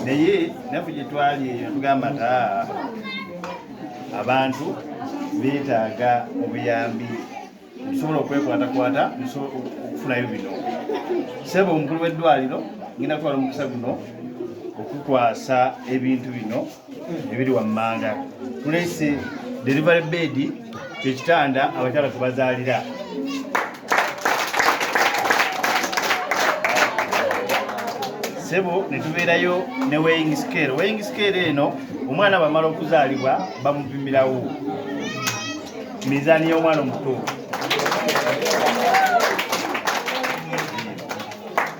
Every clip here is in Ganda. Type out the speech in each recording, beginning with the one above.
naye naffe gye twali eyo tugamba ta abantu beetaaga obuyambi tusobola okwekwatakwata okufunayo bino sebo omukulu w'eddwaliro ngenda kutwala omukisa guno okukwasa ebintu bino ebiri wammanga tulese delivery bed kyekitanda abakyala kubazaalira sebo netubeerayo ne weighing scale weighing scale eno omwana bamala okuzaalibwa bamupimirawo mizaani y'omwana omuto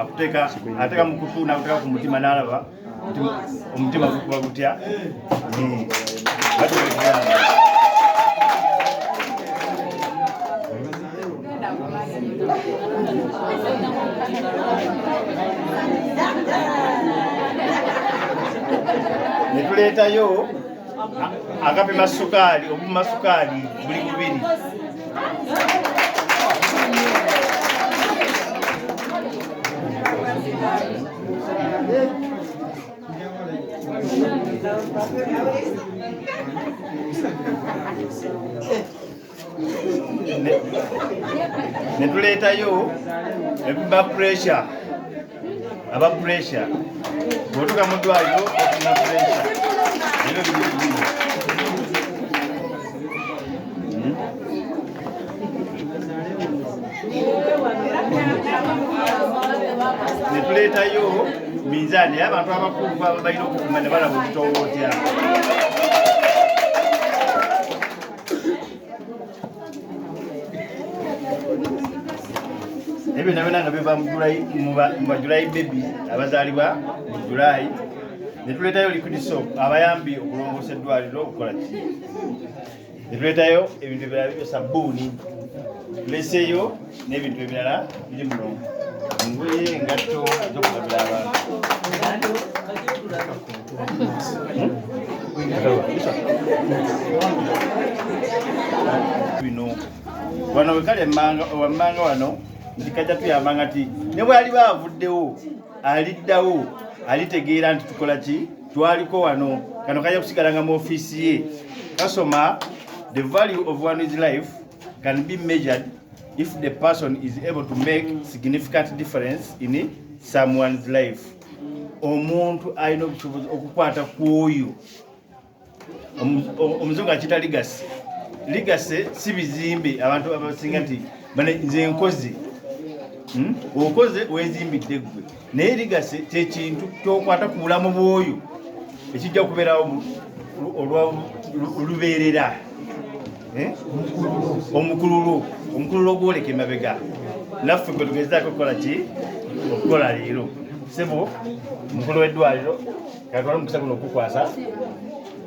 akuteka ateka mukutu nakuteka ku mutima nalaba omutima gukuba gutya netuleetayo akapima sukaali obupima sukaali buli bubiri netuleetayo ebiba pressure aba puresha bwotuka mu ddwaliro ofuna puresha ebyo bibibino netuleetayo minzaani era abantu abakulu baba balina okukuma ne balaba okutowootyako ebyo nabona nga biva mubajulayi bebi abazaalibwa mu julayi netuletayo liquid soap abayambi okulongoosa eddwaliro okukola ki netuletayo ebintu ebirala bibyo sabbuuni tuleseyo n'ebintu ebirala biri mulongo engoye engatto zokugabira abantu bino wano wekali wammanga wano nti kajja tuyamba nga ti ne bwaliba avuddewo aliddawo alitegeera nti tukola ki twaliko wano kano kajja kusigala nga mu ofiisi ye kasoma the value of one is life can be measured if the person is able to make significant difference in someone's life omuntu alina obusobozi okukwata kwoyo omuzungu akita ligase ligase si bizimbe abantu abasinga nti nze nkoze hmm? okoze wezimbidde gwe naye ligase kyekintu kyokwata ku bulamu bwoyo ekijja kubeerawo olubeerera eh? omukululo omukululo ogwoleka emabega naffe gwe tugezaako okukola ki okukola leero sebo mukulu w'eddwaliro kakole omukisa guno okukwasa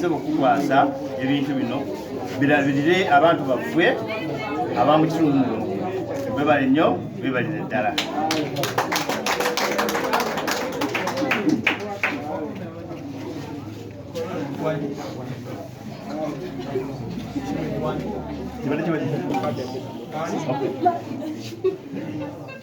sebo kukwasa ebintu bino birabirire abantu baffe abamukitundu muno bebale nnyo bebalire ddala Thank you.